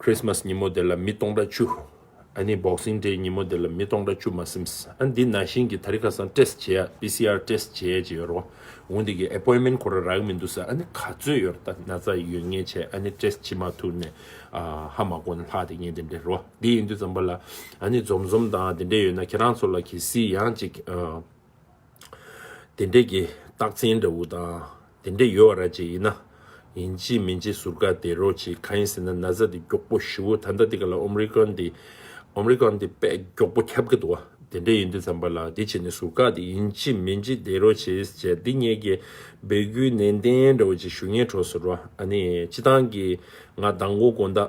Christmas ཉིན་མོ་དེ་ལ་མི་སྟོང་ཕྲག་བཅུ། ཨ་ནི Boxing Day ཉིན་མོ་དེ་ལ་མི་སྟོང་ཕྲག་བཅུ་མ་སེམས། ཨ་འདི་ན་བཞིན་གྱི་ད་རི་ཁ་སང Test བྱེད་ཡ PCR Test བྱེད་ཡ་ཅིག་ཡོད་རུང་འོང་འདི་གི Appointment ཁོ་ར་རག་གི་མི་འདུག་ས་ཨ་ནི་ག་ཚོད་ཡོད་ར་ད་ན་ཚ་ཡོད་ངེས་བྱས་ཨ་ནི Test བྱེད་མ་ཐུག་ནས་ཧ་མ་གོ་ན་ལྷག་དེ་ངེས་དེ་འདྲས་རུང་འདི་ཡིན་དུས་ཙམ་པ་ལ་ཨ་ནི་འཛོམས་འཛོམས་དང་དེ་འདྲས་ཡོད་ན་ཁྱེད་རང་ཚོ་ལ་གི་སི་ཡང་ཅིག། དེ་འདྲས་ཀྱི་རྟགས་མཚན་འདྲ་བོ་དང་དེ་འདྲས་ཡོད་བ་ར་གཅིག་ཡིན་ན། ཡིན་གཅིག་མིན་གཅིག་ཟུར་བཀག་དེ་རོ་གཅིག་གང་ཡིན་ཟེར་ན་ན་ཚ་དེ་མགྱོགས་པོ་ཞི་བོ་ད་ལྟ་འདི་ག་ལ་ཨོམ་རི་ཀོན་དེ་ཨོམ་རི་ཀོན་དེ་དཔེ་མགྱོགས་པོ་ཁྱབ་ཀྱི་འདུག་བ་དེ་འདྲས་ཡིན་དུས་ཙམ་པ་ལ་དེ་བྱས་ནས་ཟུར་བཀག་དེ་ཡིན་གཅིག་མིན་གཅིག་དེ་རོ་བྱས་བྱས་འདི་གཉིས་ཀྱི་སྦས་སྐུལ་ནན་ཏན་འདྲ་བོ་གཅིག་ཞུ་ངེས་འཕྲོ་ཟུར་བ་ཨ་ནི་སྤྱི་བཏང་གི་ང་དང་མགོ་དགོན་བདག།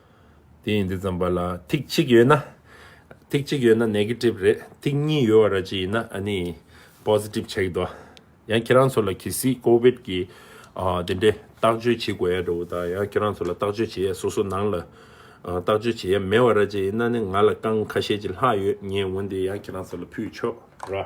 དེ་ཡིན་དེ་ཙམ་པ་ལ་ཐིག་གཅིག་ཡོད་ན། ཐིག་གཅིག་ཡོད་ན Negative རེད་ཐིག་གཉིས་ཡོད་བ་ར་ཅི་ཡིན་ན་ཨ་ནི Positive Check དོ། ཡང་ཁྱེད་རང་ཚོ་ལ་གལ་སྲིད COVID གི་དེ་འདྲའི་བརྟག་བཅོས་བྱེད་དགོས་ཡ་འདྲ་བོ་དང་ཡང་ཁྱེད་རང་ཚོ་ལ་བརྟག་བཅོས་བྱེད་ཡ་སོ་སོ་ནང་ལ་བརྟག་བཅོས་བྱེད་ཡ་མེད་བ་ར་ཅི་ཡིན་ན་ནི་ང་ལ་རྐང་ཁ་ཤས་ཅིག་ལྷག་ཡོད་ངས་འོན་ཏེ་ཡང་ཁྱེད་རང་ཚོ་ལ་ཕུལ་ཆོག་ར།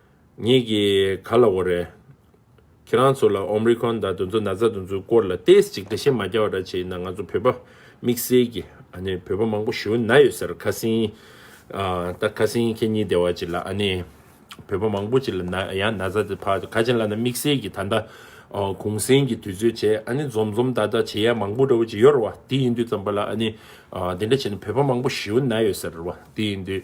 ངེད་ཀྱིས་ག་ལ་འོ་རེད། ཁྱེད་རང་ཚོ་ལ Omicron དང་དེ་ཚོ་ན་ཚ་དེ་ཚོའི་སྐོར་ལ Test ཅིག་འདྲ་བཞིན་མ་རྒྱག་བ་འདྲ་བྱས་ན་ང་ཚོ་བོད་པ་དམིགས་བསལ་གྱི་ཨ་ནི་བོད་པ་མང་པོ་ཞོལ་ན་ཡོད་སར་ཁ་སིན། ད་ཁ་སིན་ཁྱེད་གཉིས་སྡེ་བ་ཅིག་ལ་ཨ་ནི་བོད་པ་མང་པོ་ཅིག་ལ་ན་ཡང་ན་ཚ་དེ་ཕག་ག་ཅན་ལ་ན་དམིགས་བསལ་གྱི་ད་ལྟ་གུང་སེང་གི་དུས་ཚོད་བྱས་ཨ་ནི་འཛོམས་འཛོམས་ད་ད་བྱེད་ཡ་མང་པོ་འདྲ་བོ་ཅིག་ཡོད་རེད་བ་དེ་ཡིན་དུས་ཙམ་པ་ལ་ཨ་ནི་དེ་འདྲ་བྱས་ན་བོད་པ་མང་པོ་ཞོལ་ན་ཡོད་སར་བ་དེ་ཡིན་དུས།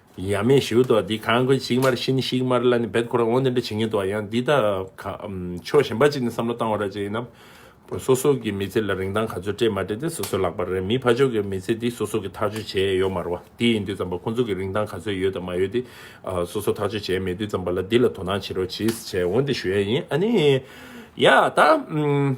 ཡབ་མེས་ཞུ་དོ་འདི་གང་གོ་ཅིག་མར་ཤིན་ཤིག་མར་ལ་ནི་བད་ཁོ་རང་ངོ་འདི་འདྲ་བྱེད་ངེས་དོ་ཡང་འདི་དག་ཕྱོགས་གཞན་པ་ཅིག་ནས་བསམ་བློ་བཏང་བ་ར་ཅིག་ཡིན་ནམ། སོ་སོ་གི་མི་ཚེ་ལ་རིན་ཐང་ག་ཚོད་སྤྲད་མ་སྤྲད་དེ་སོ་སོའི་ལག་པར་རེད་མི་ཕ་ཕྱོགས་ཀྱི་མི་ཚེ་འདི་སོ་སོ་གི་ཐག་གཅོད་བྱས་ཡོད་མར་བ་དེ་ཡིན་དུས་ཙམ་པ་ཁོང་ཚོ་གི་རིན་ཐང་ག་ཚོད་ཡོད་དང་མ་ཡོད་དེ་སོ་སོ་ཐག་གཅོད་བྱས་མེད་དུས་ཙམ་པ་ལ་འདི་ལ་དོ་སྣང་བྱེད་རོགས་གྱིས་བྱས་འོང་དེ་ཞུ་ཡ་ཡིན་ཨ་ནི། ཡ་ད།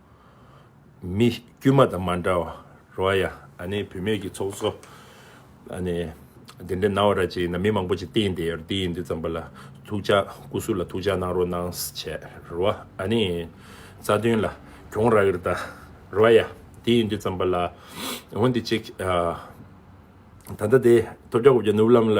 མི་དཀྱུས་མ་དང་མ་འདྲ་བ་རོ་ཨ་ཡ་ཨ་ནེའི་བུད་མེད་ཀྱི་ཚོགས་གཙོ་ཨ་ནེ་དེ་འདྲའི་ན་བ་ར་ཅིག་ཡིན་ན་མི་མང་པོ་ཅིག་བསྟེན་དེ་ཡར་འདི་ཡིན་འདི་བརྩམས་པ་ལ་ཐུགས་ཅག་སྐུ་སུ་ལ་ཐུགས་ཅག་གནང་རོགས་གནང་བྱས་རོ་ཨ་ཨ་ནེའི་རྩ་དོན་ལ་གྱོང་རག་གིར་དང་རོ་ཨ་ཡ་འདི་ཡིན་འདི་བརྩམས་པ་ལ་འོན་འདི་ཅིག་ད་ལྟ་དེ་ཐོབ་བརྒྱ་གོ་བརྒྱ་ནུབ་ལམ་ལ་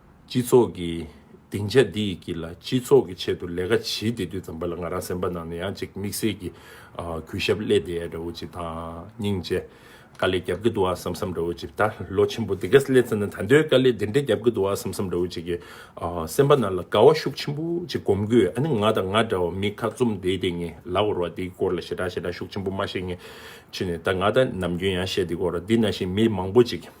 སྤྱི་ཚོགས་ཀྱི་སྡིངས་ཆ་འདི་ཡི་དཀྱིལ་ལ་སྤྱི་ཚོགས་ཀྱི་ཆེད་དུ་ལས་ཀ་བྱེད་དེ་དུས་ཙམ་པ་ལ་ང་རང་སེམས་པ་ནང་ནས་ཡང་གཅིག་དམིགས་བསལ་གྱི་གུས་ཞབས་སླེ་དེ་ཨེ་འདྲ་བོ་ཅིག་དང་སྙིང་རྗེ། དཀའ་ལས་རྒྱབ་ཀྱི་འདུག་ཨ་བསམ་བསམ་འདྲ་བོ་ཅིག་ད་ལོ་ཆེན་པོ་འདི་ག་སླེ་ཚེ་ན་ད་འདོད་དཀའ་ལས་འདི་འདྲ་རྒྱབ་ཀྱི་འདུག་ཨ་བསམ་བསམ་འདྲ་བོ་ཅིག་གི་སེམས་པ་ནང་ལ་དགའ་བ་ཤུགས་ཆེན་པོ་ཅིག་སྒོམ་དགོས་ཨ་ནི་ང་དང་ང་འདྲ་བ་མི་ཁ་བཙུམ་བསྡད་དེ་ངའི་ལག་འོར་བ་འདིའི་སྐོར་ལ་ཞེ་དྲག་ཞེ་དྲག་ཤུགས་ཆེན་པོ་མ་བཤད་ངས་ཕྱི་ནས་ད་ང་ད་ནམ་རྒྱུན་ཡང་བཤད་འདི་སྐོར་ལ་འདི་ན་བཞིན་མི་མང་པོ་ཅིག།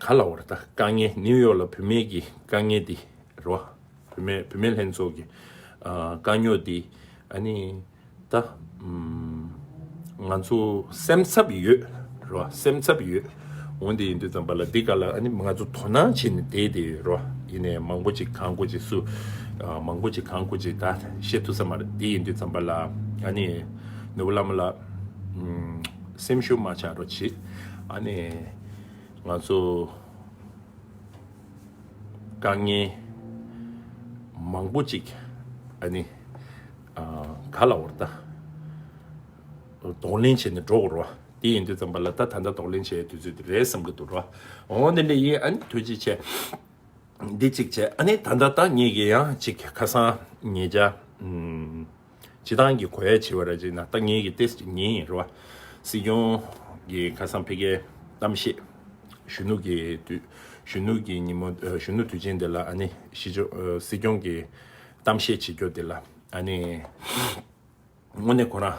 ག་ལ་བར་ད་དཀའ་ངལ་ནིའུ་ཡོག་ལ་བུད་མེད་ཀྱི་དཀའ་ངལ་དེ་རོ། བུད་མེད་བུད་མེད་ལྷན་ཚོགས་ཀྱི་དཀའ་རྙོག་དེ་ཨ་ནི་ད། ང་ཚོ་སེམས་འཚབ་ཡོད་རོ་སེམས་འཚབ་ཡོད་འོན་དེ་ཡིན་དུས་ཙམ་པ་ལ་འདི་ག་ལ་ཨ་ནི་ང་ཚོ་དོ་སྣང་བྱེད་ནས་བསྡད་དེ་ཡོད་རོ་ཡིན་ནས་མང་པོ་ཅིག་གང་དགོས་ཅིག་སུ། མང་པོ་ཅིག་གང་དགོས་ཅིག་ད་བཤད་ཐུབ་ས་མ་རེད་དེ་ཡིན་དུས་ཙམ་པ་ལ་ཨ་ནི་ནུ་བོ་བླ་མ་ལགས། སེམས་ཤུགས་མ་ཆག་རོ་ཆེ་ཨ་ནི། ང་ཚོ་དཀའ་ངལ་མང་པོ་ཅིག་ཨ་ནི་ག་ལ་བར་ད་གདོང་ལེན་བྱས་ནས་འགྲོ་དགོས་རོ། དེ་ཡིན་དུས་ཙམ་པ་ལ་ད་ད་ལྟ་གདོང་ལེན་བྱེད་ཡའི་དུས་ཚོད་དེ་རེད་བསམ་གྱི་འདུག་རོ། འོན་ཏེ་འདི་ཡིན་ཨ་ནི་དུས་ཅིག་བྱས། འདི་ཅིག་བྱས་ཨ་ནི་ད་ད་ད་ངེད་ཀྱི་ཡང་ཅིག་ཁ་སང་ངེད་ཅག། སྤྱི་བཏང་གི་གོ་ཡ་བྱེད་པ་ར་བྱེད་ན་ལྟ་ངན་གི་ཏེ་སྤྱི་ངན་ཡིན་ར་བ། སྲིད་སྐྱོང་གི་ཁ་སང་ཕེ་ཁའི་གཏམ་བཤད་གཞོན་ནུ་གི་དུས་གཞོན་ནུ་གི་ཉིན་མོ་གཞོན་ནུ་དུས་ཆེན་དེ་ལ་ཨ་ནི་སྲིད་སྐྱོང་གི་གཏམ་བཤད་བྱེད་རྒྱོ་དེ་ལ་ཨ་ནི་དངོས་གནས་ཁོ་རང་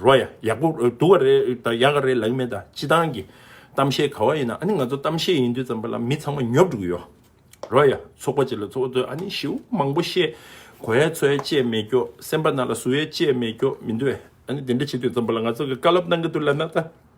རོ་ཡ་ཡག་པོ་འདུག་བ་རེད་ད་ཡག་ག་རེད་ལགས་མེད་ད་སྤྱི་སྟངས་ཀྱི་གཏམ་བཤད་ག་བ་ཡིན་ན་ཨ་ནི་ང་ཚོ་གཏམ་བཤད་ཡིན་དུས་ཙམ་པ་ལ་མི་ཚང་མ་ཉོབ་འགྲོ་གི་ཡོད་རོ་ཡ་ཚོགས་པ་བྱེད་ལ་ཚོགས་དུས་ཨ་ནི་ཞེའུ་མང་པོ་བཤད་གོ་ཡ་ཚོ་ཡ་བཅད་མེད་རྒྱོ་སེམས་པ་ན་ལ་བཟུ་ཡ་བཅད་མེད་རྒྱོ་མི་འདུག་བས་ཨ་ནི་དེ་འདྲ་བྱེད་དུས་ཙམ་པ་ལ་ང་ཚོ་གི་བཀའ་སློབ་གནང་གི་འདུག་ལ་ན་ད།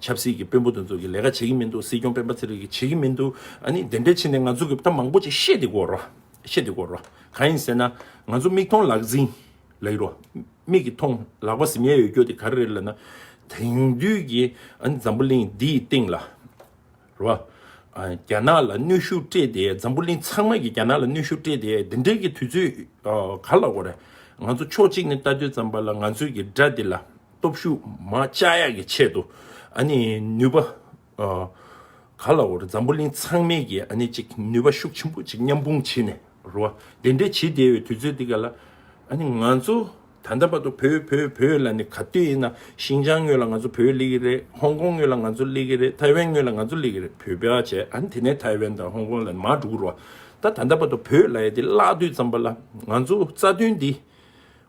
ཆབ་སྲིད་ཀྱི་དཔོན་པོ་དེ་ཚོ་གི་ལས་ཀ་བྱེད་ཀྱི་མི་འདུག་སྲིད་སྐྱོང་སྤེན་པ་ཚེ་རིང་གི་བྱེད་ཀྱི་མི་འདུག་ཨ་ནི་དེ་འདྲའི་ཕྱིན་ནས་ང་ཚོ་གི་ད་མང་པོ་ཅིག་བཤད་དེ་གོ་རོགས་བཤད་དེ་གོ་རོགས་གང་ཡིན་ཟེར་ན་ང་ཚོ་མིག་མཐོང་ལག་ཟིན་ལགས་རོ་མིག་གི་མཐོང་ལག་པ་ཟིན་མྱལ་ཡོད་རྒྱོ་དེ་ག་རེ་རེད་ལ་ན་དེང་དུས་ཀྱི་ཨ་ནི་འཛམ་བུ་གླིང་འདི་ཡི་སྟེང་ལ་རོ་རྒྱ་ནག་ལ་གནོད་ཤུགས་སྤྲད་དེ་འཛམ་བུ་གླིང་ཚང་མ་གི་རྒྱ་ནག་ལ་གནོད་ཤུགས་སྤྲད་དེ་དེ་འདྲའི་གི་དུས་ཚོད་ག་ལ་གོ་རེད་ང་ཚོ་ཕྱོགས་གཅིག་ནས་ལྟ་དུས་ཙམ་པ་ལ་ང་ཚོས་གི་དགྲ་དེ་ལ། སྟོབས་ཤུགས་མ་བཅའ་ཡག་གི་ཆེད་དུ་ཨ་ནི་ནུས་པ། ག་ལ་བོར་འཛམ་བུ་གླིང་ཚང་མའི་གི་ཨ་ནི་ཅིག་ནུས་པ་ཤུགས་ཆེན་པོ་ཅིག་མཉམ་སྤུངས་བྱེད་ནས་རུ་བ་དེ་འདྲའི་བྱེད་བསྡད་བའི་དུས་ཚོད་འདི་ག་ལ་ཨ་ནི་ང་ཚོ་ད་ལྟ་བར་དུ་བོད་བོད་བོད་ལ་ནི་ག་དུས་ཡིན་ན་ཤིང་ཅང་ངོས་ལ་ང་ཚོ་བོད་གླེ་གི་རེད་ཧོང་ཀོང་ངོས་ལ་ང་ཚོ་གླེ་གི་རེད་ཐའི་ཝན་ངོས་ལ་ང་ཚོ་གླེ་གི་རེད་བོད་པ་བྱས་ཨ་ནི་དེ་ནས་ཐའི་ཝན་དང་ཧོང་ཀོང་ལ་ནི་མ་འགྲོ་གི་རུ་བ་ད་ད་ལྟ་བར་དུ་བོད་ལ་ཡ་དེ་བརླག་དུས་ཙམ་པ་ལ་ང་ཚོ་རྩ་དོན་འདི།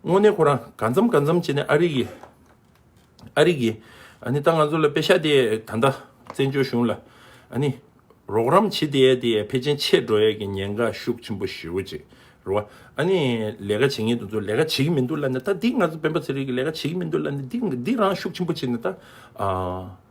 དངོས་གནས་ཁོ་རང་གང་འཚམ་གང་འཚམ་བྱས་ནས་ཨ་རིག་གི་ཨ་རིག་གི་ཨ་ནི་ད་ང་ཚོ་ལ་དཔེ་ཤ་དེ་ད་ལྟ་བཙན་བྱོལ་གཞུང་ལ་ཨ་ནི་རོགས་རམ་བྱེད་དེ་ཡས་དེ་ཡས་ཕལ་ཆེན་ཆད་འགྲོ་ཡས་ཀྱི་ཉེན་ཁ་ཤུགས་ཆེན་པོ་ཞི་བོ་ཅིག་རོ་བ་ཨ་ནི་ལས་ཀ་བྱེད་ངེས་དུ་འཚོ་ལས་ཀ་བྱེད་ཀྱི་མི་འདུག་ལ་ནི་ད་འདི་ང་ཚོ་སྤེན་པ་ཚེ་རིང་གི་ལས་ཀ་བྱེད་ཀྱི་མི་འདུག་ལ་ནི་འདི་འདི་རང་ཤུགས་ཆེན་པོ་བྱས་ནས་ད་ཨ།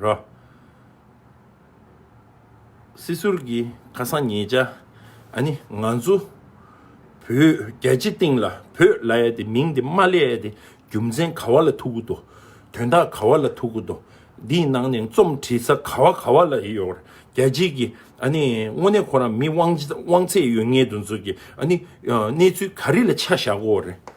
རོ། སྲིད་ཟུར་གྱི་ཁ་སང་ངེད་ཅག་ཨ་ནི་ང་ཚོ་བོད་རྒྱ་སྤྱི་སྟེང་ལ་བོད་ལ་ཡ་དེ་མིང་དེ་མ་ལས་ཡ་དེ་རྒྱུ་མཚན་ག་བ་ལ་ཐུག་གི་འདུག་དོན་དག་ག་བ་ལ་ཐུག་གི་འདུག་འདིའི་ནང་ནས་རྩོམ་བྲིས་ས་ག་བ་ག་བ་ལ་ཡོད་རྒྱ་སྤྱི་གི་ཨ་ནི་དངོས་གནས་ཁོ་རང་མི་དབང་ཚད་ཡོད་ངེས་དུ་འཛོལ་གྱི་ཨ་ནི་གནས་ཚུལ་ག་རི་ལ་ཆ་བཞག་གོ་རེད།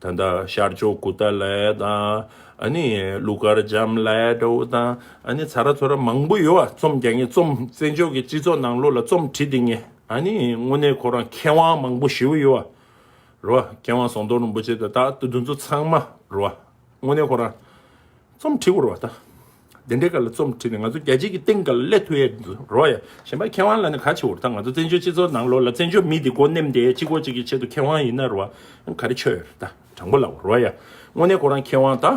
ད་ལྟ་ཤར་ཕྱོགས་ཀུ་ཏཱ་ལའི་དང། གླུ་གར་འབྱམས་ཀླས་ཀྲོའུ་དང། ཚ་ར་ཚོ་ར་མང་པོ་ཡོད། རྩོམ་རྒྱག་ངེས་རྩོམ། བཙན་བྱོལ་གྱི་སྤྱི་ཚོགས་ནང་ལོ་ལ་རྩོམ་བྲིས་འདི་ངེས། དངོས་གནས་ཁོ་རང་མཁས་དབང་མང་པོ་ཞེའུ་ཡོད། མཁས་དབང་ཟོང་དོང་རིན་པོ་ཆེ་དང་ད་ལྟ་འདུ་འཛོ་ཚང་མ། དངོས་གནས་ཁོ་རང་རྩོམ་བྲིས་པོ་རོ། དེ་འདྲའི་སྐོར་ལ་རྩོམ་བྲིས་ནས་ང་ཚོ་རྒྱལ་སྤྱིའི་སྟེང་དཀའ་ལས་ཐུག་ཡས་འདུག་རོགས་ཡ། གཞན་པ་མཁས་དབང་ལ་ནི་ག་ཆེ་བོར་ད་ང་ཚོ་བཙན་བྱོལ་སྤྱི་ཚོགས་ནང་ལོག་ལ་བཙན་བྱོལ་མི་འདི་མགོ་བསྣེམས་ཏེ་གཅིག་གོ་གཅིག་གི་ཆེད་དུ་མཁས་དབང་ཡིན་ན་རོགས་ཡ། ག་རེ་ཆོས་ཡོད་རེད་ད་དྲང་པོ་ལབ་བོ་རོགས་ཡ། དངོས་གནས་ཁོ་རང་མཁས་དབང་ད།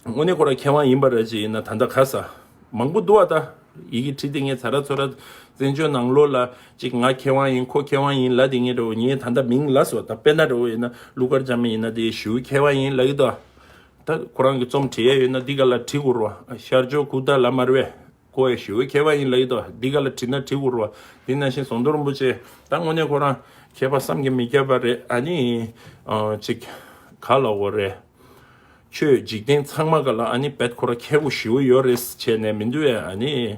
དངོས་གནས་ཁོ་རང་མཁས་དབང་ཡིན་པ་རེད་ཅེས་ཡིན་ན་ད་ད་ག་ས། མང་པོ་འདུག་བ་ད། ཡི་གེ་བྲིས་ཏེ་ངས་ཚ་ར་ཚོ་ར། བཙན་བྱོལ་ནང་ལོག་ལ་གཅིག་ང་མཁས་དབང་ཡིན་ཁོ་མཁས་དབང་ཡིན་ལ་དེ་ངས་རེད་བོ་ངས་ད་ད་མིང་ལ་སོ་ད་དཔེ་ན་རེད་བོ་ཡིན་ན་ཀླུ་མཁར་བྱམས་ཡིན་ན་དེ་བཞུགས་མཁས་དབང་ཡིན་ལ་གི་ད། ད་ཁོ་རང་གི་རྩོམ་བྲི་ཡས་ཡོད་ན་འདི་ག་ལ་བྲི་འུར་བ་ཤར་ཕྱོགས་ཁུག་རྟ་ལ་མར་བས་ཁོ་བའི་ཞི་བའི་མཁས་པ་ཡིན་ལ་ཡིད་དོ་འདི་ག་ལ་བྲིས་ན་བྲི་འུར་བ་དེ་ན་བཞིན་ཟོང་དོར་རིན་པོ་ཆེ་ད་དངོས་གནས་ཁོ་རང་མཁས་པ་བསམ་གྱི་མི་ཁྱབ་པ་རེད་ཨ་ནི་ཅིག་ག་ལ་འོ་རེད་ཁྱོད་འཇིག་རྟེན་ཚང་མ་ག་ལ་ཨ་ནི་བད་ཁོ་ར་མཁས་པོ་ཞི་བ་ཡོད་རེད་བྱས་ནས་མི་འདུ་བས་ཨ་ནི་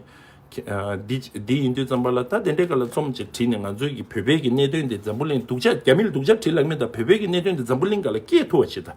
འདི་ཡིན་དུས་བརྩམས་པ་ལ་ད་དེ་འདྲས་ག་ལ་རྩོམ་ཅིག་བྲིས་ནས་ང་ཚོའི་གི་བོད་པའི་གི་གནད་དདོན་འདི་འཛམ་བུ་གླིང་སྡུག་ཅག་རྒྱ་མིལ་སྡུག་ཅག་བྲིས་ལགས་མེད་ད་བོད་པའི་གི་གནད་དདོན་འདི་འཛམ་བུ་གླིང་ག་ལ་སྐྱེས་ཐུ་བ་བྱེད་ད།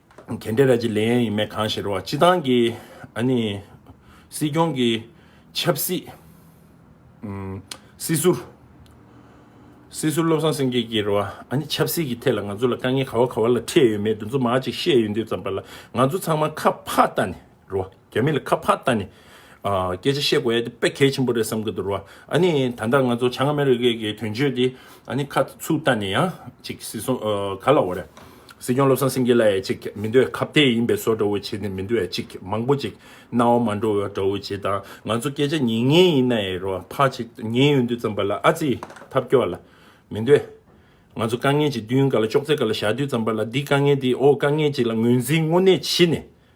གན་དྷེ་ར་ཇི་ལེ་ཡན་ཡིན་མེད་གང་ཞིག་རེད་བ་སྤྱི་བཏང་གི་ཨ་ནི་སྲིད་སྐྱོང་གི་ཆབ་སྲིད་སྲིད་ཟུར་སྲིད་ཟུར་བློ་བཟང་སེང་གེ་གིས་རེད་བ་ཨ་ནི་ཆབ་སྲིད་ཀྱི་ཐད་ལ་ང་ཚོ་ལ་དཀའ་ངལ་ག་བ་ག་བ་ལ་འཕྲད་ཡོད་མེད་དོན་ཚོ་མ་ཅིག་བཤད་ཡོད་འདུག་ཙམ་པ་ལ་ང་ཚོ་ཚང་མ་ཁ་ཕག་ལྟ་ནས་རེད། རྒྱ་མི་ལ་ཁ་ཕག་ལྟ་ནས་སྐད་ཆ་བཤད་དགོས་ཡ་དེ་དཔེ་གལ་ཆེན་པོ་རེད་བསམ་གི་འདུག་རེད། ཨ་ནི་ད་ལྟ་ང་ཚོ་བྱང་ཨ་མེ་རི་ཀའི་གི་དོན་གཅོད་དེ་ཨ་ནི་ཁ་ཚུགས་ལྟ་ནས་ཡང་ཅིག་སྲིད་སྲུང་ག་ལ་འོ་རེད། སྲིད་སྐྱོང་བློ་བཟང་སེང་གེ་ལ་ཡ་ཅིག་མི་འདོད་ཁ་བརྡའི་ཡིན་པའི་སོ་འདྲ་བོ་བྱེད་ནས་མི་འདོད་ཡ་ཅིག་མང་པོ་ཅིག་རྣ་བ་མ་འགྲོ་བའི་འདྲ་བོ་བྱེད་དང་ང་ཚོ་སྐད་ཆ་ཉན་ངེས་ཡིན་ན་ཡི་རོ་ཕག་ཅིག་ཉན་ཡོང་དུས་ཙམ་པ་ལ་ཨ་ཙི་ཐབས་སྐྱོ་ལ་མི་འདོད། ང་ཚོ་དཀའ་ངལ་གྱི་མདུན་ག་ལ་ཅོག་ཙེ་ག་ལ་བཞག་དུས་ཙམ་པ་ལ་འདི་དཀའ་ངལ་འདི་ཨོ་དཀའ་ངལ་ཅིག་ལ་ངོས་འཛིན་དངོས་གནས་བྱེད་ནས་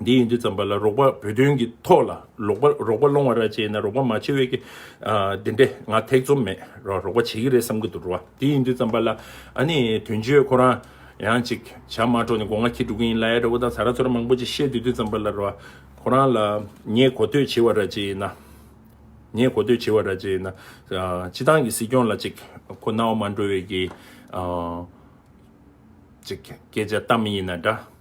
འདི་ཡིན་དུས་ཙམ་པ་ལ་རོགས་པ་བོད་དོན་གྱི་ཐོག་ལ་རོགས་པ་རོགས་པ་སློང་བ་ར་བྱེད་ན་རོགས་པ་མ་བྱེད་བའི་དེ་འདྲས་ང་ཐེག་ཚོམ་མེད་རོགས་པ་བྱེད་ཀྱི་རེད་བསམ་གྱི་འདུག་རོགས་པ་དེ་ཡིན་དུས་ཙམ་པ་ལ་ཨ་ནི་དོན་གཅོད་ཁོ་རང་ཡང་ཅིག་བྱ་མ་འགྲོ་ནས་སྒོ་ང་ཁྱི་འདྲུ་གི་ཡིན་ལ་ཡ་འདྲ་བོ་དང་ཟ་ར་ཚོ་ར་མང་པོ་ཅིག་བཤད་དུས་དུས་ཙམ་པ་ལ་རོགས་པ་ཁོ་རང་ལ་ངས་གོ་ཐོས་བྱེད་བ་ར་བྱེད་ཡིན་ན་ངས་གོ་ཐོས་བྱེད་བ་ར་བྱེད་ཡིན་ན་སྤྱི་བཏང་གྱི་སྲིད་སྐྱོང་ལ་ཅིག་ཁོ་རྣ་བ་མ་འགྲོ་བའི་གྱི་ཅིག་སྐད་ཆ་གཏམ་ཡིན་ན་འདྲ།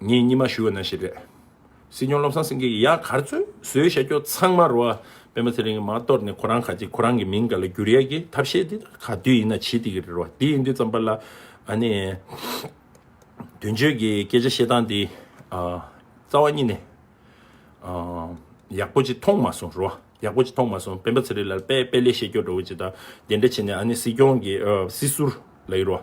ངས་སྙིང་མ་ཞུ་བ་ན་ཞེ་དྲེག། སྲིད་སྐྱོང་བློ་བཟང་སེང་གེ་ཡིས་ཡག་གར་ཚོས་བཟོས་བྱ་རྒྱུ་ཚང་མ་རོ་སྤེན་པ་ཚེ་རིང་གིས་མ་གཏོར་ནས་ཁོ་རང་ག་ཅིག་ཁོ་རང་གི་མིང་ག་ལ་བསྒྱུར་ཡག་གི་ཐབས་ཤེས་དེ་ག་དུས་ཡིན་ན་བྱེད་དེ་གི་རེད་རོ་དེ་ཡིན་དུས་ཙམ་པ་ལ་ཨ་ནི་དོན་གཅོད་ཀྱི་སྐད་ཆ་བཤད་སྟངས་དེ་རྩ་བ་ཉིད་ནས་ཡག་པོ་ཅིག་མཐོང་མ་སོང་རོ་ཡག་པོ་ཅིག་མཐོང་མ་སོང་སྤེན་པ་ཚེ་རིང་ལ་དཔེ་དཔེ་ལས་བཤད་རྒྱུ་འགྲོ་བ་ཅིག་དང་དེ་འདྲ་བྱས་ནས་ཨ་ནི་སྲིད་སྐྱོང་གི་སྲིད་ཟུར་ལ་ཡིན་རོ།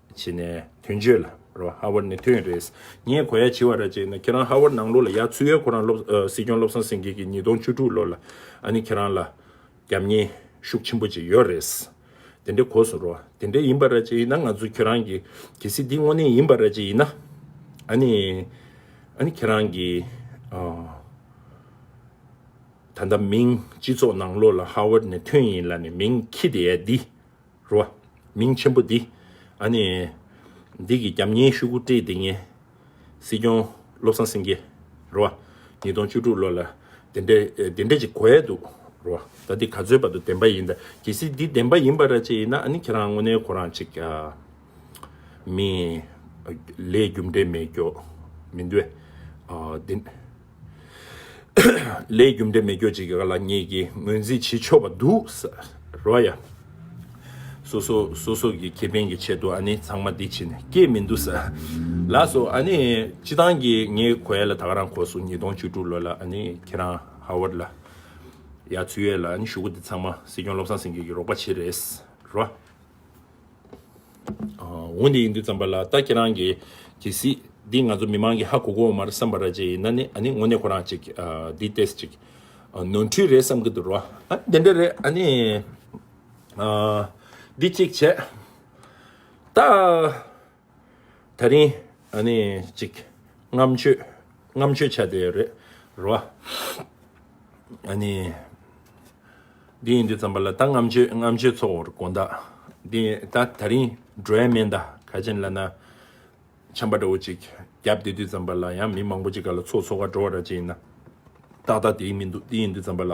བྱས་ནས་དོན་བརྗོད་ལ་རོ་ཧ་བར་ནི་དོན་རེད། ངས་གོ་ཡ་བྱི་བ་ར་བྱས་ན་ཁྱེད་རང་ཧ་བར་ནང་ལོག་ལ་ཡ་ཚུ་ཡོད་ཁོ་རང་སློབ་སྲིད་སྐྱོང་བློ་བཟང་སེང་གེ་གི་ཉིས་སྟོང་བཅུ་དྲུག་ལོ་ལ་ཨ་ནི་ཁྱེད་རང་ལ་རྒྱབ་གཉེས་ཤུགས་ཆེན་པོ་ཅིག་ཡོད་རེད། དེ་འདྲའི་གོ་སོང་རོ་དེ་འདྲའི་ཡིན་པ་ར་བྱས་ཡིན་ན་ང་ཚོ་ཁྱེད་རང་གི་གལ་སྲིད་འདི་དངོས་གནས་ཡིན་པ་ར་བྱས་ཡིན་ན་ཨ་ནི་ཨ་ནི་ཁྱེད་རང་གི་ད་ལྟ་མིང་སྤྱི་ཚོགས་ནང་ལོག་ལ་ཧ་བར་ནི་དོན་ཡིན་ལ་ནི་མིང་ཁྱི་དེ་ཡ་འདི། རུ་བ། མིང་ཆེན་པོ་འདི། ཨ་ནི། འདི་གི་རྒྱབ་གཉེར་ཤུག་གུ་བཀྲིས་བདེ་གཉེར། སྲིད་སྐྱོང། བློ་བཟང་སེང་གེ། རུ་བ། ཉིས་སྟོང་བཅུ་དྲུག་ལོ་ལ། དེ་འདྲ། དེ་འདྲ་ཅིག་གོ་ཡས་འདུག། རུ་བ། ད་འདི་ག་ཚོད་བར་དུ་བདེན་པ་ཡིན་ད། གལ་སྲིད་འདི་བདེན་པ་ཡིན་པ་ར་ཅིག་ཡིན་ན་ཨ་ནི་ཁྱེད་རང་དངོས་གནས་གོ་རང་ཅིག། མི། ལས་རྒྱུ་འབྲས་མེད་སྐྱོ། མི་འདུས། འདི། ལས་རྒྱུ་འབྲས་མི་སྐྱོ་ཅིག་ལ་ངེད་ཀྱིས་ངོས་འཛིན་བྱེད་ཆོག་པ་འདུག་རོ་ཡ། སོ་སོ་སོ་སོ་གི་ཁེ་ཕན་གྱི་ཆེད་དུ་ཨ་ནི་ཚང་མ་འདི་བྱེད་ནས་སྐྱེས་མི་འདུག་ལ་སོ་ཨ་ནི་སྤྱི་བཏང་གི་ངའི་གོ་ཡ་ལ་ད་ག་རང་ཁོ་སོ་ཉིས་སྟོང་བཅུ་དྲུག་ལོ་ལ་ཨ་ནི་ཁྱེད་རང་ཧ་ཝར་ལ་ཡ་ཚུད་ཡོད་ལ་ཨ་ནི་ཞུ་གུ་འདི་ཚང་མ་སྲིད་སྐྱོང་བློ་བཟང་སེང་གེ་གི་རོགས་པ་བྱེད་རེད་རོ། འོན་ཏེ་ཡིན་དུས་བརྩམས་པ་ལ་ད་ཁྱེད་རང་གིས་གྱིས་སྲིད། འདི་ང་ཚོ་མི་མང་གིས་ཧ་གོ་གོ་འོ་མར་བསམ་པ་ར་ཅི་ཡིན་ན་ནི་ཨ་ནི་དངོས་གནས་ཁོ་རང་ཅིག་འདི་ལྟས་ཅིག་ནོར་འཁྲུལ་རེད་བསམ་གྱི་འདུག་རོ། ཨ་འདི་འདྲ་རེད་ཨ་ནི། འདི་གཅིག་བྱས། ད། ད་རིང་ཨ་ནི་ཅིག་རྔམ་ཆོས་རྔམ་ཆོས་ཆ་དེ་རེད་རོ། ཨ་ནི། དེ་ཡིན་དུས་ཙམ་པ་ལ་ད་རྔམ་ཆོས་རྔམ་ཆོས་ཚོགས་བོར་དགོངས་དག་དེ་ད་ད་རིང་འགྲོ་ཡ་མེད་མདའ་ཁ་ཆེན་ལ་ན་ཆམ་པ་འདྲ་བོ་ཅིག་རྒྱབ་དེ་དུས་ཙམ་པ་ལ་ཡང་མི་མང་པོ་ཅིག་ག་ལ་ཚོགས་ཚོགས་ཀ་འགྲོ་བ་འདྲ་ཅིག་ཡིན་ན་ཏག་ཏག་དེ་ཡིན་མི་འདུག་དེ་ཡིན་དུས་ཙམ་པ་ལ།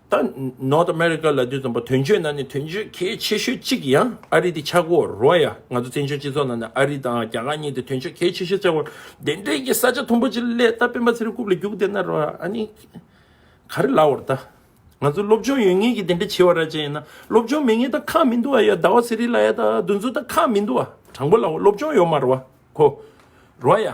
ད North America ལ་དུས་ཙམ་པོ་དོན་གཅོད་ནང་ནས་དོན་གཅོད་གལ་ཆེ་ཤོས་གཅིག་ཡང་ཨ་རི་དེ་ཆགས་སྒོ་རོ་ཡ་ང་ཚོ་བཙན་བྱོལ་སྤྱི་ཚོགས་ནང་ནས་ཨ་རི་དང་རྒྱ་གར་གཉིས་དེ་དོན་གཅོད་གལ་ཆེ་ཤོས་ཆགས་སྒོ་དེ་འདྲའི་གི་ས་ཆ་དུམ་པོ་ཅིག་སླེ་ད་སྤེན་པ་ཚེ་རིང་རྐུབ་ལ་རྒྱུག་བསྡད་ན་རོ་ཡ་ཨ་ནི་ག་རེ་ལགས་འོར་ད་ང་ཚོ་སློབ་སྦྱོང་ཡོད་ངེས་གི་དེ་འདྲ་བྱེད་བ་ར་ཅན་ཡིན་ན་སློབ་སྦྱོང་མེད་ངེས་ད་ཁག་མི་འདུག་ཨ་ཡ་ཟླ་བ་ཟེ་རི་ལ་ཡ་ད་དུ་འཛུ་ད་ཁག་མི་འདུག་ཨ་དྲང་པོ་ལགས་འོ་སློབ་སྦྱོང་ཡོད་མ་རོ་བ་གོ་རོ་ཡ།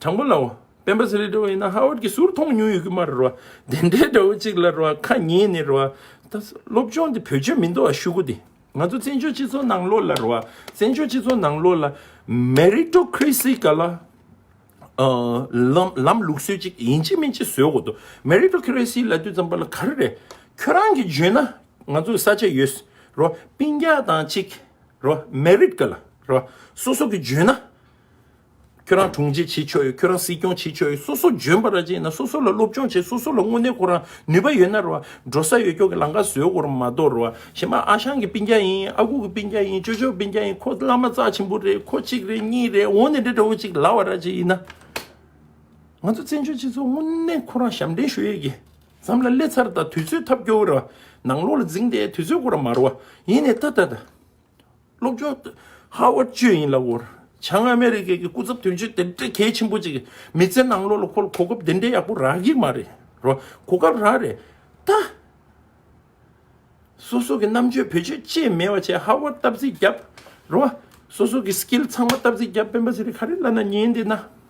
དྲང་པོ་ལའོ། སྤེན་པ་ཚེ་རིང་འདྲ་བོ་ཡིན་ན་ཧ་ཝར་གྱི་ཟུར་མཐོང་ཉུང་ཡོད་ཀྱི་མ་རེད་རོ། དེ་འདྲའི་འདྲ་བོ་གཅིག་ལ་རོ་ཁ་ཉིན་ནི་རོ། ད་སློབ་སྦྱོང་འདི་བོད་ཆོས་མིན་འདུག་ཨ་ཤུ་གུ་འདི། ང་ཚོ་བཙན་བྱོལ་སྤྱི་ཚོགས་ནང་ལོགས་ལ་རོ། བཙན་བྱོལ་སྤྱི་ཚོགས་ནང་ལོགས་ལ། Meritocracy ག་ལ། ལམ་ལུགས་སྲོལ་ཅིག་ཡིན་ཅི་མིན་ཅི་བཟོས་དགོས་འདུག Meritocracy ལ་དུས་ཙམ་པ་ལ་ག་རེ་རེད། ཁྱོད་རང་གིས་བརྗོད་ན། ང་ཚོ་ས་ཆ་ཡོད། རོ། པིན་རྒྱག་དང་གཅིག། རོ། མེ་རིས་བཀོད་ལ་རོ། སོ་སོ་གི་འཇོན་ན། ཁྱོད་རང་དྲུང་ཆེ་བྱེད་ཆོག་ཡོད་ཁྱོད་རང་སྲིད་སྐྱོང་བྱེད་ཆོག་ཡོད་སོ་སོ་འཇོན་པ་ར་བྱེད་ན་སོ་སོ་ལ་སློབ་སྦྱོང་བྱེད་སོ་སོ་ལ་དངོས་གནས་ཁོ་རང་ནུས་པ་ཡོད་ན་རོ། འགྲོ་ས་ཡོད་སྐྱོ་གི་ལང་ཀ་བཟོས་དགོ་རུ་མ་གཏོགས་རོ། ཞེ་མ་ཨ་ཞང་གི་སྤིན་རྒྱ་ཡིན་ཨ་ཁུ་གི་སྤིན་རྒྱ་ཡིན་ཅོ་ཅོ་སྤིན་རྒྱ་ཡིན་ཁོ་བླ་མ་རྩ་ཆེན་པོ་རེད་ཁོ་གཅིག་རེད་གཉིས་རེད་འོ་ནི་རེད་འདྲ་བོ་གཅིག་ལ་བ་ར་བྱེད་ཡིན་ན། ང་ཚོ་བཙན་བྱོལ་སྤྱི་ཚོགས་དངོས་གནས་ཁོ་རང་ཞབས་འདྲེན་ཞུ་ཡོད་ཀྱི་མཚམས་ལ་སླེབས་ཚར་ད་དུས་ཚོད་ཐབས་སྐྱོ་བོ་རེད། ནང་ལོགས་ལ་འཛིང་སྟེ་དུས་ཚོད་སྐོར་ར་མ་རོ། ཡིན་ནས་ད་ད་ད། སློབ་སྦྱོང། ཧྭ་ཝར་ཅུས་ཡིན་ལ་བོར། བྱང་ཨ་མེ་རི་ཀའི་སྐུ་ཚབ་དོན་གཅོད་དེ་འདྲ་གལ་ཆེན་པོ་ཅིག་མི་ཚེ་ནང་ལོགས་ལ་ཁོ་ལ་གོ་སྐབས་དེ་འདྲའི་ཡག་པོ་རག་གི་མ་རེད་རོ། གོ་སྐབས་རག་རེད། ད། སོ་སོ་གི་རྣམ་དཔྱོད་བེད་སྤྱོད་ཅེས་མེད་བ་བྱས་ཧྭ་ཝར་སྟབས་རྩིས་བརྒྱབ། རོ། སོ་སོ་གི་ཤཀིལ་ཚང་མ་སྟབས་རྩིས་བརྒྱབ་སྤེན་པ་ཟེར་རིགས་ཁ་རེ་བླ་ན་མྱེད་འདི་ན།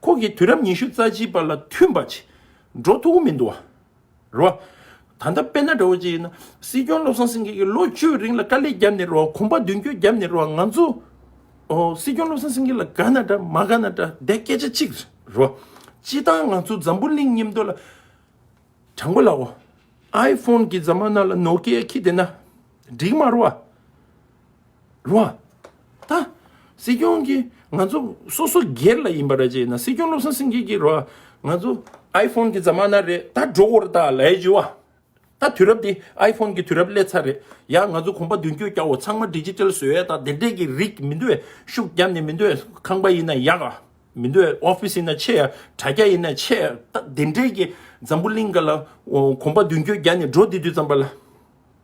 ཁོང་གིས་དུས་རབས་ཉི་ཤུ་རྩ་གཅིག་པ་ལ་མཐུན་པ་བྱེད་འགྲོ་ཐུག་མི་འདུག་རེད་བ། ད་ལྟ་དཔལ་ནཱ་གྲོ་ཅི་ཡིན་ན་སྲིད་སྐྱོང་བློ་བཟང་སེང་གེ་ཀྱིས་ལོ་བཅུའི་རིང་ལ་དཀའ་ལས་བརྒྱབ་ནི་རེད་བ་གོམ་པ་མདུན་སྐྱོད་བརྒྱབ་ནི་རེད་བ་ང་ཚོ་སྲིད་སྐྱོང་བློ་བཟང་སེང་གེ་ལ་དགའ་ན་འདྲ་མ་དགའ་ན་འདྲ་དེ་སྐད་ཆ་གཅིག་རེད་བ། སྤྱི་བཏང་ང་ཚོ་འཛམ་བུ་གླིང་སྙེམས་དོ་ལ་དྲང་པོ་ལ་བ། Iphone གི་རྫ་མ་ནང་ལ Nokia ཁྱི་དེ་ན། འགྲིག་མ་རུ་བ། ད་སྲིད་སྐྱོང་གིས་ང་ཚོ་སོ་སོ་སྒེར་ལ་ཡིན་པ་རེད་ཅེ་ན་སྲིད་སྐྱོང་བློ་བཟང་སེང་གེ་གིས་རུ་བ། ང་ཚོ་ཨའི་ཧྥོན་གྱི་རྫ་མ་ན་རེད་ད་འགྲོ་གོ་རུ་ད་ལའི་རྗི་བ། ད་དུས་རབས་འདི་ཨའི་ཧྥོན་གྱི་དུས་རབས་སླེ་ཚར་རེད་ཡ་ང་ཚོ་གོམ་པ་མདུན་སྐྱོད་རྒྱ་བོ་ཚང་མ Digital བཟོས་ཡ་ད་དེ་འདྲས་ཀྱི་རིགས་མི་འདོད་ཤུགས་རྒྱབ་ནས་མི་འདོད་ཁང་པ་ཡིན་ན་ཡག་ཨ་མི་འདོད Office ཡིན་ན་ཆེ་ཡ་དྲ་རྒྱ་ཡིན་ན་ཆེ་ད་དེ་འདྲས་ཀྱི་འཛམ་བུ་གླིང་འགའ་ལ་གོམ་པ་མདུན་སྐྱོད་རྒྱ་ནས་འགྲོ་དེ་དུས་ཙམ་པ་ལ།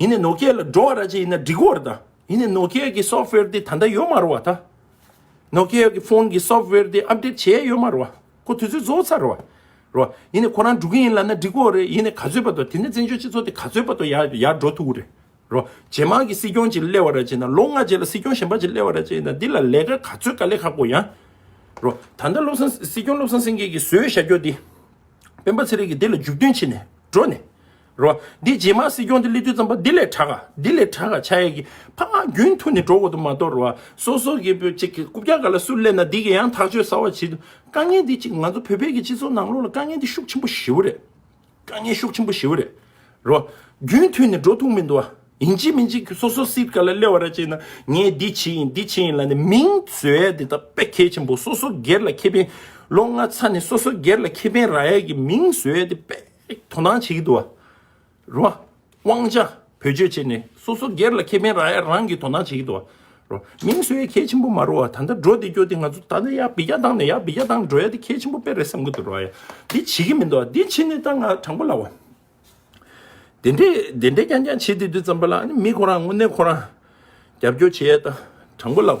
ཡིན་ནའི་ནོ་ཀེ་ལ་འགྲོ་བ་ར་ཅི་ཡིན་ན་འགྲིག་བོར་དང་ཡིན་ནའི་ནོ་ཀེ་གི་སོབ་ཝེར་དེ་ད་ལྟ་ཡོད་མ་རོ་བ་དང་ནོ་ཀེ་གི་ཕོན་གི་སོབ་ཝེར་དེ་ཨབ་དེད་བྱས་ཡོད་མ་རོ་བ་ཁོ་དུས་ཚོད་བཟོ་ཚར་བ་རོ་ཡིན་ནའི་ཁོ་རང་འགྲོ་གི་ཡིན་ལ་ན་འགྲིག་བོ་རེད་ཡིན་ནའི་ག་ཚོད་པ་དོ་དེ་ནས་བཙན་བྱོལ་སྤྱི་ཚོགས་དེ་ག་ཚོད་པ་དོ་ཡར་ཡར་འགྲོ་ཐུབ་རེད་རོ་ཇེ་མང་གི་སྲིད་སྐྱོང་ཅིག་སླེ་བ་ར་ཅི་ཡིན་ན་ལོ་ལྔ་རྗེས་ལ་སྲིད་སྐྱོང་གཞན་པ་ཅིག་སླེ་བ་ར་ཅི་ཡིན་ན་འདི་ལ་ལས་ཀ་ག་ཚོད་ག་ལས་ཁག་པོ་ཡང་རོ་ད་ལྟ་བློ་བཟང་སྲིད་སྐྱོང་བློ་བཟང་སེང་གེ་གི་བཟོས་བྱ་རྒྱོ་དེ་སྤེན་པ་ཚེ་རིང་གི་དེ་ལ་འཇུག་དོན་ཕྱི་ནས་འགྲོ་ནས་རོ། འདི་རྗེས་མ་སྲིད་སྐྱོང་འདི་སླེབས་དུས་ཙམ་པ་འདི་ལས་དྲག་ག་འདི་ལས་དྲག་ག་ཆ་ཡག་གི་ཕ་མ་རྒྱུན་མཐུད་ནས་འགྲོ་དགོས་འདུག་མ་གཏོགས་རོ། སོ་སོ་གི་བུ་གཅིག་གི་རྐུབ་བཀྱག་ག་ལ་སུ་སླེབས་ན་འདི་གི་ཡང་ཐག་གཅོད་གསར་བ་བྱེད་དགོས་ངེས་འདི་གཅིག་ང་ཚོ་བོད་པའི་གི་སྤྱི་ཚོགས་ནང་ལོགས་ལ་དཀའ་ངལ་འདི་ཤུགས་ཆེན་པོ་ཞི་བོ་རེད། དཀའ་ངལ་ཤུགས་ཆེན་པོ་ཞི་བོ་རེད། རོ། རྒྱུན་མཐུད་ནས་འགྲོ་ཐུག་མི་འདུག་ཡིན་གཅིག་མིན་གཅིག་སོ་སོ་སྲིད་ག་ལ་སླེབས་བ་ར་བྱས་ན་ངས་འདི་བྱེད་ཡིན་འདི་བྱེད་ཡིན་ལ་ནི་མིང་བཟོས་འདི་དག་དཔེ་གལ་ཆེན་པོ་སོ་སོ་སྒེར་ལ་ཁེ་ཕན་ལོ་ལྔ་ཚ་ནི་སོ་སོ་སྒེར་ལ་ཁེ་ཕན་རག་ཡ་གི་མིང་བཟོས་འདི་དཔེ། དོ་སྣང་བྱེད་ཀྱི་འདུག་རོ། དབང་ཆ་བེད་སྤྱོད་བྱས་ནས་སོ་སོ་སྒེར་ལ་ཁེ་ཕན་རག་ཡ་རང་གིས་དོ་སྣང་བྱེད་ཀྱི་འདུག་རོ། མིང་བཟོས་ཡ་གལ་ཆེན་པོ་མ་རུ་བ་ད་ལྟ་འགྲོ་དེ་སྐྱོ་དེ་ང་ཚོ་ད་ལྟ་ཡ་བི་རྒྱ་བཏང་ནས་ཡ་བི་རྒྱ་བཏང་འགྲོ་ཡ་དེ་གལ་ཆེན་པོ་དཔེ་རེད་བསམ་གྱི་འདུག་རོ། ཡ་དེ་བྱེད་ཀྱི་མི་འདུག་དེ་བྱེད་ནས་ད་ང་དྲང་པོ་ལ་བ། དེ་འདྲས་དེ་འདྲས་རྐྱང་རྐྱང་བྱེད་དེ་དུས་ཙམ་པ་ལ་ཨ་ནི་མི་ཁོ་རང་དངོས་གནས་ཁོ་རང་རྒྱབ་སྐྱོར་བྱེད་ཡ་ད་དྲང་པོ་ལ་བ།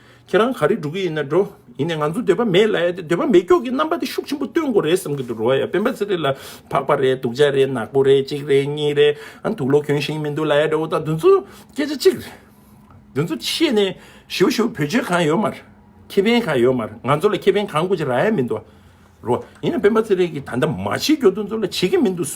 ཁྱེད་རང་ག་རེ་འགྲོ་གི་ཡིན་ན་འགྲོ། ཡིན་ནས་ང་ཚོ་འདོད་པ་མེད་ལ་ཡ་དེ་འདོད་པ་མེད་སྐྱོག་གི་རྣམ་པ་དེ་ཤུགས་ཆེན་པོ་སྟོན་དགོས་རེད་བསམ་གི་འདུག་འགྲོ་བ་ཡ་སྤེན་པ་ཚེ་རིང་ལ་འཕགས་པ་རེད་སྡུག་ཅག་རེད་ནག་པོ་རེད་གཅིག་རེད་གཉིས་རེད་དུག་ལོག་གྱོན་ཞིང་མི་འདུག་ལ་ཡ་འདྲ་བོ་དང་དེ་ཚོ་སྐད་ཆ་གཅིག་རེད་དེ་ཚོ་ཤེས་ནས་ཞུ་ཞུ་བོད་ཆོལ་གང་ཡོད་མར་ཁེ་ཕན་གང་ཡོད་མར་ང་ཚོ་ལ་ཁེ་ཕན་གང་དགོས་ཅི་ར་ཡ་མི་འདུག་རོ། ཡིན་ན་སྤེན་པ་ཚེ་རིང་གིས་ད་ལྟ་མ་བྱེད་རྒྱུ་དེ་ཚོ་ལ་བྱེད་ཀྱི་མི་འདུག།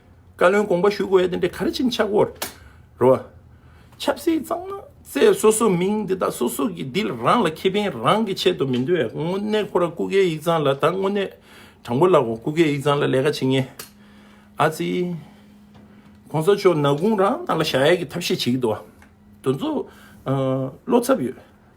བཀའ་བློན་དགོངས་པ་ཞུ་དགོས་དེ་འདྲའི་གར་ཕྱིན་ཆག་སྒོ་རུ། ཆབ་སྲིད་གཙང་ན་རྩེ་སོ་སོ་མིང་འདི་དག་སོ་སོ་གིས་འདིར་རང་ལ་ཁེ་ཕན་རང་གི་ཆེད་དུ་མི་འདོད་དངོས་གནས་ཁོ་རང་སྐུ་སྒེར་ཡིག་ཚང་ལ་ད་དངོས་གནས་དྲང་པོ་ལབ་བོ་སྐུ་སྒེར་ཡིག་ཚང་ལ་ལས་ཀ་བྱེད་ངེས་ཨ་ཙི། གོང་ས་མཆོག་ནག་དགུང་རང་ནང་ལ་བཞག་ཡས་ཀྱི་ཐབས་ཤེས་བྱེད་ཀྱི་འདུག་བ་དོན་ཚོ་བློ་འཚབ་ཡོད།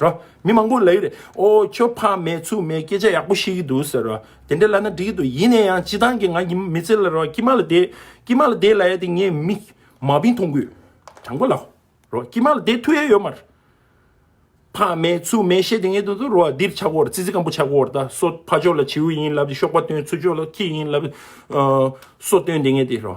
རོ། མི་མང་པོ་ལ་ཡོད་རེད། ཨོ། ཁྱོད་ཕ་མེད་ཚུལ་མེད་སྐད་ཆ་ཡག་པོ་བཤད་ཀྱི་འདུག་ཟེར། དེ་འདྲ་ལབ་ན་འགྲིག་གི་འདུག་ཡིན་ན་ཡང་སྤྱི་བཏང་གི་ང་ཡི་མི་ཚེ་ལ་རོ་སྐྱིད་མ་ལ་བདེ། སྐྱིད་མ་ལ་བདེ་ལ་ཡ་དེ་ངས་མི། མ་བིན་མཐོང་དགོས། དྲང་པོ་ལ། རོ་སྐྱིད་མ་ལ་བདེ་ཐུག་ཡ་ཡོད་མ། ཕ་མེད་ཚུལ་མེད་བཤད་དེ་ངས་དོན་དུ་རོ་འདིར་ཆག་གོར་ཙི་ཙི་སྐམ་པོ་ཆག་གོར་ད་སོ་ཕ་ཕྱོགས་ལ་བྱིའུ་ཡིན་ལབ་དེ་གཤོག་པ་སྟོན་ཚུལ་ཕྱོགས་ལ་ཁྱི་ཡིན་ལབ། སོ་སྟོན་དེ་ངས་དེ་རོ།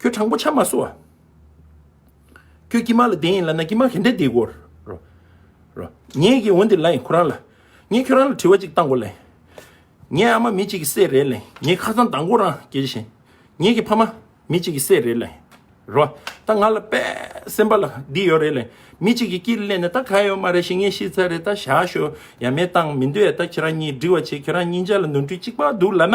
ཁྱོད་དྲང་པོ་ཆ་མ་སོ། ཁྱོད་ཀྱི་མ་ལ་བདེན་ཡིན་ལ་ན་ཀྱི་མ་གན་དྲན་དེའི་གོ་རོ། ངས་ཀྱི་འོན་ཏེ་ལན་ཁོ་རང་ལ། ངས་ཁྱོད་རང་ལ་དྲི་བ་གཅིག་བཏང་གོ་ལན། ངས་ཨ་མ་མི་གཅིག་གི་སྲས་རེད་ལན། ངས་ཁ་སང་དང་གོ་རང་གྱེས་བཞིན། ངས་ཀྱི་ཕ་མ་མི་གཅིག་གི་སྲས་རེད་ལན། རོ། ད་ང་ལ་པད་སེམས་པ་ལ་འདི་ཡོད་རེད་ལན། མི་གཅིག་གི་དཀྱིལ་ལས་ནས་ད་ག་ཡོད་མ་རེད་ཞིག་ངས་ཤི་ཚར་རེད་ད་བཞག་ཤོ། ཡ་མེད་བཏང་མི་འདོད་ད་ཁྱེད་རང་གཉིས་འདྲི་བ་བྱེད་ཁྱེད་རང་གཉིས་མཇལ་ལ་ནོར་འཁྲུལ་གཅིག་པ་འདུག་ལ་ན།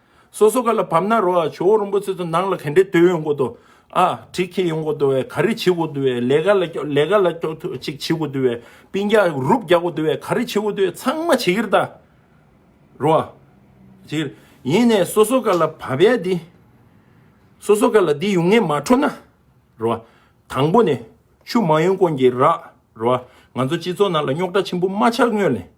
སོ་སོ་ག་ལ་བབས་ན་རོགས་ཇོ་བོ་རིན་པོ་ཆེ་ཚོ་ནང་ལ་གན་དྲི་དོད་ཡོང་གོ་དོ་ཨ། དྲི་ཁྱེད་ཡོང་གོ་དོ་བས་ག་རེ་བྱེད་གོ་དོ་བས་ལས་ཀ་ལ་སྐྱོ་ལས་ཀ་ལ་སྐྱོ་ཐུ་ཅིག་བྱེད་གོ་དོ་བས་པིན་རྒྱ་རུབ་རྒྱག་གོ་དོ་བས་ག་རེ་བྱེད་གོ་དོ་བས་ཚང་མ་བྱེད་ཀྱིར་ད། རོགས། ཇིར། ཡིན་ནས་སོ་སོ་ག་ལ་བབས་བས་འདི། སོ་སོ་ག་ལ་འདི་ཡུང་ངེ་མ་འཕྲོ་ན། རོགས། དང་པོ་ནས། ཆུ་མ་ཡོན་ཀོན་གྱིས་ར། རོགས། ང་ཚོ་སྤྱི་ཚོགས་ནང་ལ་རྙོག་དྲ་ཆེན་པོ་མ་ཆགས་སྔོན་ལས།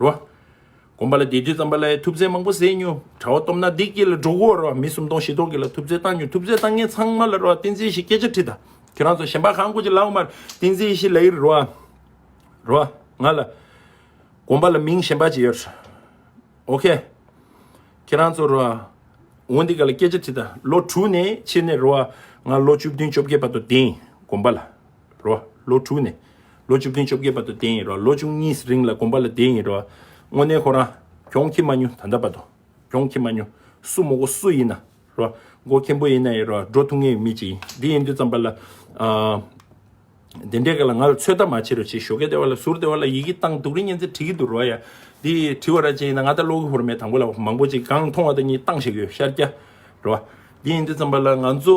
རོ། སྒོམ་པ་ལ་བདེ་དུས་ཙམ་པ་ལ་ཐུབ་ཚད་མང་པོ་ཟད་ཉོ། གྲྭ་བ་སྟོབས་ན་བདེ་སྐྱིད་ལ་འགྲོ་གོ་རོ། མི་སུམ་སྟོང་བཞི་སྟོང་གི་ལ་ཐུབ་ཚད་བཏང་ཉོ་ཐུབ་ཚད་བཏང་མཁན་ཚང་མ་ལ་རོ། བསྟན་འཛིན་བཞི་སྐད་ཆ་ཁྲི་དང། ཁྱེད་རང་ཚོ་གཞན་པ་གང་གོ་ཅི་ལའོ་མ། བསྟན་འཛིན་བཞི་ལ་ཡིར་རོ། རོ། ང་ལ། སྒོམ་པ་ལ་མིང་གཞན་པ་ཅི་ཡོད། ཨོ་ཁེ། ཁྱེད་རང་ཚོ་རོ། འོ་འདི་ག་ལ་སྐད་ཆ་ཁྲི་དང། ལོ་དྲུག་ནས་ཕྱི་ནས་རོ། ང་ལོ་བཅུ་བདུན་བཅོ་བརྒྱད་པ་དོ་དེང་སྒོམ་པ་ལ། རོ། ལོ་དྲུག་ནས་ལོ་བཅུ་བདུན་བཅོ་བརྒྱད་བར་དུ་བསྟན་ཡིན་རོ། ལོ་བཅུ་གཉིས་རིང་ལ་དགོན་པ་ལ་བསྡད་ཡིན་རོ། དངོས་གནས་ཁོ་རང། གྱོང་ཁྱི་མ་ཉུ་ད་ལྟ་བར་དུ། གྱོང་ཁྱི་མ་ཉུ། སུ་མོ་གོ་སུ་ཡིན་ན། རོ། མགོ་མཁན་པོ་ཡིན་ན་ཡིན་རོ། འགྲོ་ཐུབ་ངེས་ཡོད་མི་ཅིག་ཡིན། འདི་ཡིན་དུས་ཙམ་པ་ལ། དེ་འདྲས་ག་ལ་ང་ལ་ཚོད་ལྟ་མ་བྱེད་རོ་ཅིག་ཞོ་ག་སྡེ་བ་ལ་ཟུར་སྡེ་བ་ལ་ཡི་གེ་གཏང་འདུག་རི་གཉན་ཚེ་བྲིས་ཀྱི་འདུག་རོ། དེ་བྲིས་བ་ར་ཅན་ཡིན་ན་ང་ད་ལོག་གི་ཧོར་མའི་དང་པོ་ལ་མང་པོ་ཅིག་གང་མཐོང་བ་དང་གཉིས་གཏང་བཞིན་ཡོད་ཤར་སྐྱ། རོ། འདི་ཡིན་དུས་ཙམ་པ་ལ་ང་ཚོ།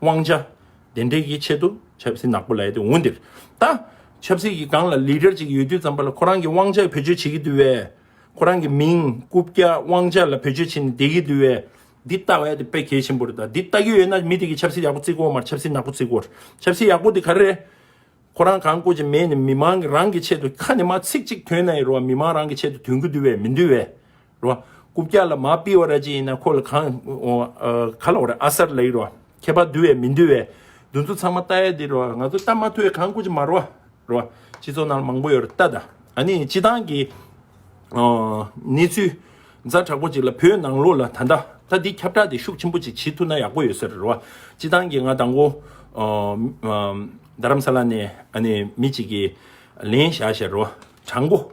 དབང་ཆ་དེ་འདྲས་ཀྱི་ཆེད་དུ་ཆབ་སྲིད་ནག་པོ་ལས་དེ་འོང་འདིར་ད་ཆབ་སྲིད་ཀྱི་སྒང་ལ་ལིདར་ཅིག་ཡོད་རྒྱུ་ཙམ་པ་ལ་ཁོ་རང་གི་དབང་ཆ་བེད་སྤྱོད་བྱེད་ཀྱི་འདུག་བས་ཁོ་རང་གི་མིང་རྐུབ་བཀྱག་དབང་ཆ་ལ་བེད་སྤྱོད་བྱེད་ནས་བསྡད་ཀྱི་འདུག་བས་འདི་ལྟ་བས་དེ་དཔེ་གལ་ཆེན་པོ་རེད་ད་འདི་ལྟ་རྒྱུ་ཡོད་ན་མི་དེ་གི་ཆབ་སྲིད་ཡག་པོ་བརྩི་དགོས་མར་ཆབ་སྲིད་ནག་པོ་བརྩི་དགོས་ཆབ་སྲིད་ཡག་པོ་དེ་ག་རེ་རེད་ཁོ་རང་གང་དཀོད་ཅིག་མེད་ནས་མི་མང་གི་རང་གི་ཆེད་དུ་ཁ་ནས་མ་ཚིག་ཅིག་ཐོན་ནའི་རེད་བ་མི་མང་རང་གི་ཆེད་དུ་དོན་གྱི་འདུག་བས་མི་འདུག་བས། རོ། སྐུ་བཀྱག་ལ་མ་པི་བ་ར་ཅི་ཡིན་ན་ཁོ་ལ་གང། ག་ལོག་ར་ཨ་སར་ལ་ཡི་རོ། ཁྱད་པར་འདུལ་བའི་མི་འདུལ་བའི། འདུལ་ཚུལ་ཚང་མ་ལྟ་ཡ་འདི་རོ། ང་ཚོ་ལྟ་མ་ཐུ་བའི་གང་སྐུ་ཅི་མ་རོ། རོ། སྤྱི་ཚོགས་ནང་ལ་མང་པོ་ཡོད་ར་ལྟ་ད། ཨ་ནི་སྤྱི་བཏང་གི། གནས་ཚུལ། མཛའ་དྲག་པོ་ཅིག་ལ་བོད་ནང་ལོགས་ལ་ད་ལྟ། ད་འདི་ཁྱབ་བསྒྲགས་འདི་ཤུགས་ཆེན་པོ་ཅིག་བྱེད་ཐུ་ན་ཡག་པོ་ཡོད་ས་རེད་རོ། སྤྱི་བཏང་གི་ང་དང་བོ། རྡ་རམ་ས་ལ་ནས་ཨ་ནི་མི་ཅིག་གིས། ལན་བཞག་ཞེ་རོ། དྲང་པོ།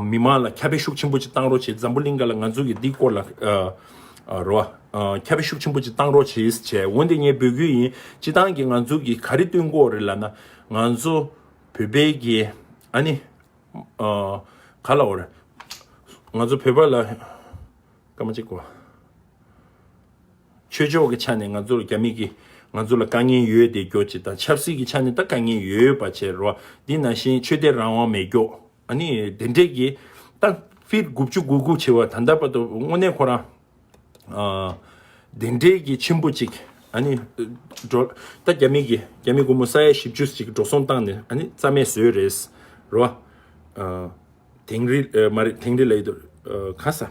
མི་མང་ལ་ཁྱབ་པའི་ཤུགས་ཆེན་པོ་ཅིག་གཏང་རོགས་བྱེད་འཛམ་བུ་གླིང་འགའ་ལ་ང་ཚོ་གིས་འདི་སྐོར་ལ་ཁྱབ་པའི་ཤུགས་ཆེན་པོ་ཅིག་གཏང་རོགས་བྱེད་བྱས་འོན་ཏེ་ངས་འབོད་སྐུལ་ཡིན་སྤྱི་བཏང་གིས་ང་ཚོ་གིས་ག་རེ་བཏོན་དགོས་རེད་ལབ་ན་ང་ཚོ་བོད་པའི་གི་ཨ་ནི་ག་ལ་འོ་རེད་ང་ཚོ་བོད་པ་ལ་སྐར་མ་གཅིག་གོ། ཆོས་ཕྱོགས་ཀྱི་ཆ་ནས་ང་ཚོར་རྒྱ་མི་གིས་ང་ཚོ་ལ་དཀའ་ངལ་ཡོད་དེ་སྐྱོ་བྱེད་དང་ཆབ་སྲིད་ཀྱི་ཆ་ནས་ད་དཀའ་ངལ་ཡོད་པ་བྱེད་རོགས་འདི་ན་བཞིན་ཆོས་དད་རང་དབང་མེད་སྐྱོ་ཨ་ནི་དེ་འདྲས་ཀྱི་ད་ཕིར་དགུ་བཅུ་དགུ་དགུ་བྱེད་བ་ད་ལྟ་བར་དུ་དངོས་གནས་ཁོ་རང་ཨ་དེ་འདྲས་ཀྱི་ཆེན་པོ་ཅིག་ཨ་ནི་འགྲོ་ད་རྒྱ་མི་གིས་རྒྱ་མི་དགུ་མོ་ས་ཡ་བཞི་བཅུ་ཅིག་འགྲོ་སོང་བཏང་ནས་ཨ་ནི་རྩ་མེད་བཟོས་རེད་རོ་ཨ་དེང་རི་མ་རེད་དེང་རི་ལ་ཡོད་དོ་ག་ས།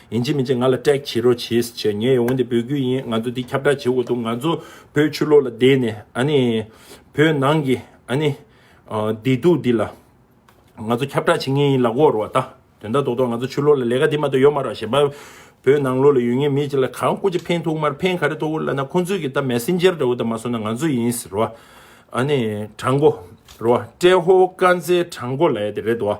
ཡིན་གཅིག་མིན་གཅིག་ང་ལ་སྐྲག་བྱེད་རོགས་བྱས་ཞེས་ངས་ཡང་འོན་ཏེ་འབོད་སྐུལ་ཡིན་ང་ཚོ་འདི་ཁྱབ་བསྒྲགས་བྱེད་དགོས་འདུག་ང་ཚོ་བོད་ཆུ་ལོག་ལ་བསྡད་ནས་ཨ་ནི། བོད་ནང་གི་ཨ་ནི། བདེ་སྡུག་འདི་ལ་ང་ཚོ་ཁྱབ་བསྒྲགས་བྱེད་ངེས་ཡིན་ལ་བསྒོ་རོགས་ད་དོན་དག་ཏོག་ཏོག་ང་ཚོ་ཆུ་ལོག་ལ་ལས་ཀ་འདི་མ་གཏོགས་ཡོད་མ་རོགས་གཞན་པ་བོད་ནང་ལོག་ལ་ཡོད་ངེས་མེད་ཅིག་ལ་གང་སྐུ་ཅིག་ཕན་ཐོག་མར་ཕན་ག་རེ་ཐོག་ལ་ན་ཁོང་ཚོས་ཀྱི་ད་མེ་སིན་ཇེར་འདྲ་བོ་ད་མ་སོང་ན་ང་ཚོ་ཡིན་ཟེར་བ་ཨ་ནི་དྲང་པོ་རོགས་བཀྲས་ཧོ་དཀར་མཛེས་དྲང་པོ་ལ་ཡ་དེ་རེད་དོ་ཨ